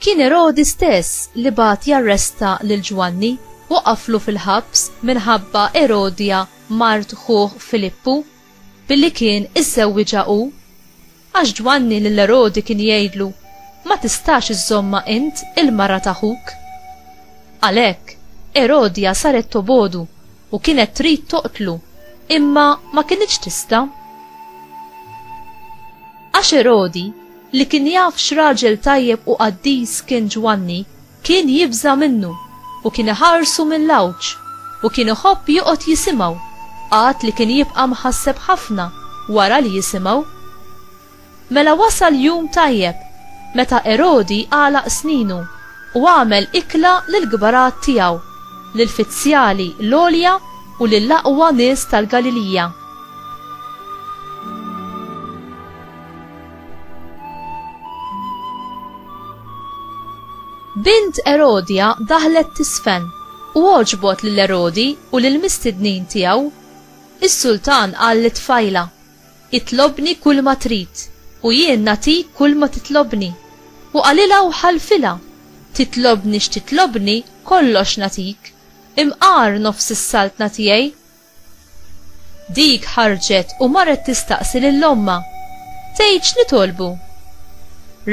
Kien Erodi stess li bagħat jarresta lil Ġwanni u qaflu fil-ħabs minħabba Erodja mart ħuh Filippu, billi kien iżżewwiġha hu. Għax Ġwanni lil Erodi kien jgħidlu, Ma tistax iżżommha int il-mara ta' ħuk. Għalhekk, Erodja saret tobogħdu u kienet trid toqtlu, imma ma kinitx tista'. Għax Erodi, li kien jaf x'raġel tajjeb u qaddis kien Ġwanni, kien jibża' minnu, u kien iħarsu mill-għawġ, u kien iħobb joqgħod jisimgħu, għad li kien jibqa' mħasseb ħafna wara li jisimgħu. Mela wasal jum tajjeb, meta Erodi għalaq sninu, u għamel ikla lill-kbarat tiegħu, lill-fizzjali l-għolja u lill-aqwa nies tal-Galilija. Bint Erodja daħlet tiżfen, u għoġbot lil Erodi u lill-mistednin tiegħu. Is-sultan qal lit-tfajla, Itlobni kulma trid, u jien nagħtik kulma titlobni. U qalilha u ħalfilha, Titlobni x'titlobni, kollox nagħtik. Imqar nofs is-saltna tiegħi, Dik ħarġet u marret tistaqsi lil ommha, Tgħid x'nitolbu?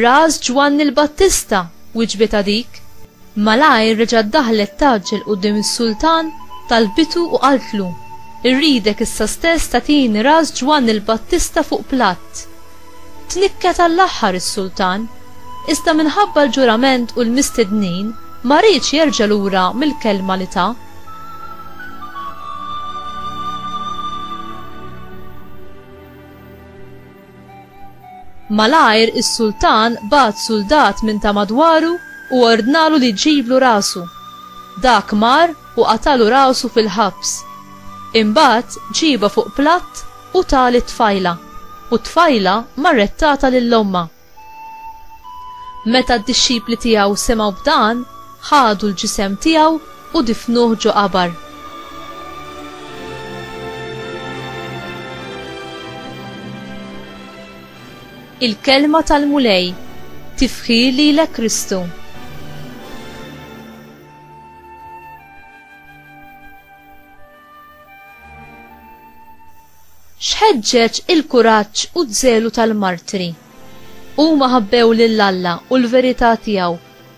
Ras Ġwanni l-Battista, wiġbitha dik. Malajr reġgħet daħlet tgħaġġel quddiem is-sultan, talbitu u qaltlu, Irridek issa stess tagħtini ras Ġwanni l-Battista fuq platt. Tnikket għall-aħħar is-sultan, iżda minħabba l-ġurament u l-mistednin ma riedx jerġa' lura mill-kelma li ta. Malajr is-sultan bagħat suldat minn ta' madwaru u ordnalu li jġiblu rasu. Dak mar u qatalu rasu fil-ħabs. Imbagħad ġiebha fuq platt u ta lit-tfajla, u t-tfajla marret tagħtha lil ommha. Meta d-dixxipli tiegħu semgħu b'dan, ħadu l-ġisem tiegħu u difnuh ġo qabar. Il-Kelma tal-Mulej Tifħir lilek Kristu! X'ħeġġeġ il-kuraġġ u z-zelu tal-martri. Huma ħabbew lil Alla u l-verità tiegħu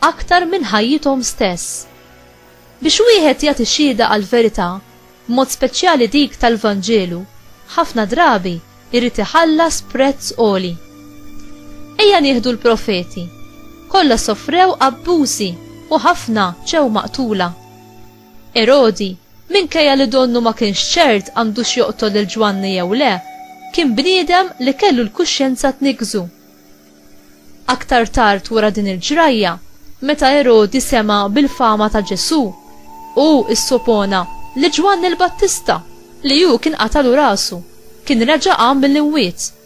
aktar minn ħajjithom stess. Biex wieħed jagħti xhieda għall-verità, b'mod speċjali dik tal-Vanġelu, ħafna drabi jrid iħallas prezz għoli. Ejja nieħdu l-profeti. Kollha sofrew abbużi u ħafna ġew maqtula. Erodi, minkejja li donnu ma kienx ċert għandux joqtol lil Ġwanni jew le, kien bniedem li kellu l-kuxjenza tniggżu. Aktar tard wara din il-ġrajja, meta Erodi sema' bil-fama ta' Ġesù, hu issopona li Ġwanni l-Battista, li hu kien qatalu rasu, kien reġa' qam mill-imwiet.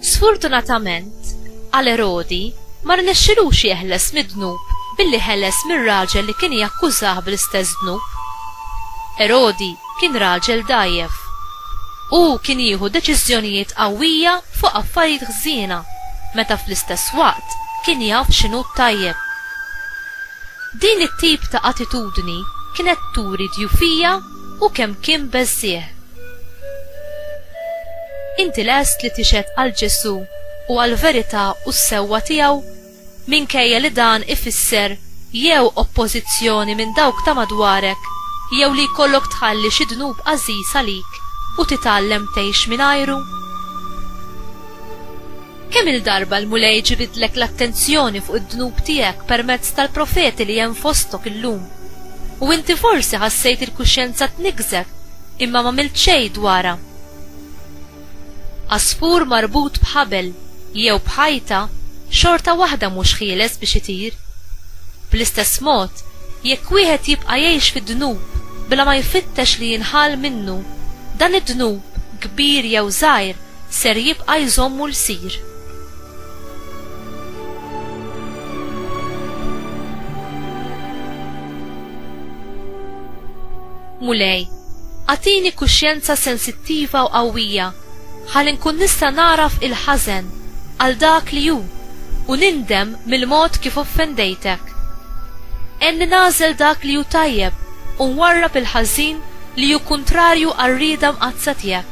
Sfortunatament, għal Erodi ma rnexxilux jeħles mid-dnub billi ħeles mir-raġel li kien jakkużah bl-istess dnub. Erodi kien raġel dajjef. Hu kien jieħu deċiżjonijiet qawwija fuq affarijiet ħżiena meta fl-istess waqt kien jaf x'inhu t-tajjeb. Din it-tip ta' attitudni kienet turi djufija u kemm kien beżżiegħ. Inti lest li tixhed għal Ġesù u għall-verità u s-sewwa tiegħu, minkejja li dan ifisser jew oppożizzjoni minn dawk ta' madwarek jew li jkollok tħalli xi dnub għażiż għalik u titgħallem tgħix mingħajru? Kemm-il darba l-Mulej ġibidlek l-attenzjoni fuq id-dnub tiegħek permezz tal-profeti li hemm fostok illum, u inti forsi ħassejt il-kuxjenza tniggżek imma m'għamilt xejn dwarha? Għasfur marbut b'ħabel jew b'ħajta xorta waħda mhux ħieles biex itir. Bl-istess mod, jekk wieħed jibqa' jgħix fid-dnub bla ma jfittex li jinħall minnu, dan id-dnub, kbir jew żgħir, ser jibqa' jżommu lsir. Mulej, agħtini kuxjenza sensittiva u qawwija ħalli nkun nista' nagħraf il-ħażen għal dak li hu u nindem mill-mod kif offendejtek. Għenni nagħżel dak li hu tajjeb u nwarrab il-ħażin li hu kuntrarju għar-rieda mqaddsa tiegħek.